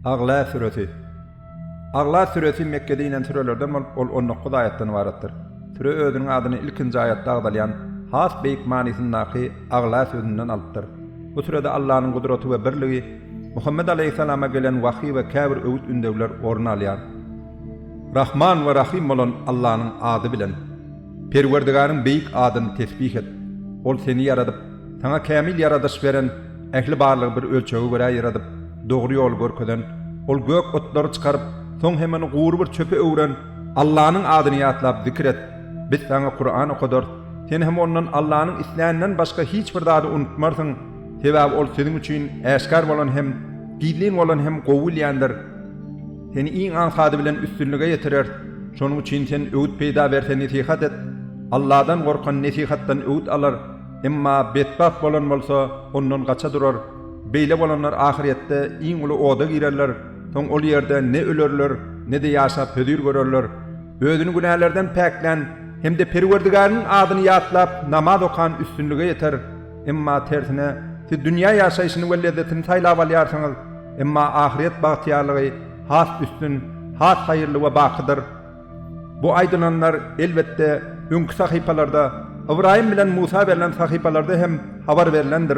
Agla süresi. Agla süresi Mekgede inen sürelerden bolup, ol on dokuz aýatdan ybaratdyr. Süre özüniň adyny ilkinji aýatda agzalýan has beýik manysyndaky Agla sözünden alypdyr. Bu sürede Allanyň gudraty we birligi, Muhammet alaýhyssalama gelen wahyý we käbir öwüt-ündewler orun alýar. Rahman we Rahym bolan Allanyň ady bilen. Perwerdigaryň beýik adyny tesbih et! Ol seni ýaradyp, saňa kämil ýaradyş beren, ähli barlygy bir ölçege görä ýaradyp, dogry ýoly görkezen, Ol gök otlary çykaryp, soň hem ony gury bir çöpe öwren. Allanyň adyny ýatlap zikir et! Biz saňa Kuran okadarys, sen hem ondan Allanyň isläninden başga hiç bir zady unutmarsyň, sebäbi ol siziň üçin äşgär bolan hem, gizlin bolan hem gowy bilýändir. Seni iň aňsady bilen üstünlige ýetireris. Şonuň üçin sen öwüt peýda berse nesihat et. Alladan gorkan nesihatdan öwüt alar, emma betbagt bolan bolsa, ondan gaça durar. Beýle bolanlar ahyrýetde iň uly oda girerler, soň ol ýerde ne ölerler, ne-de ýaşap hözir görerler. Özüni günälerden päklän hem-de Perwerdigäriniň adyny ýatlap namaz okan üstünlige ýeter. Emma tersine, siz dünýä ýaşaýşyny we lezzetini saýlap alýarsyňyz, emma ahyret bagtyýarlygy has üstün, has haýyrly we bakydyr. Bu aýdylanlar, elbetde, öňki sahypalarda, Ybraýym bilen Musa berlen sahypalarda hem habar berlendir.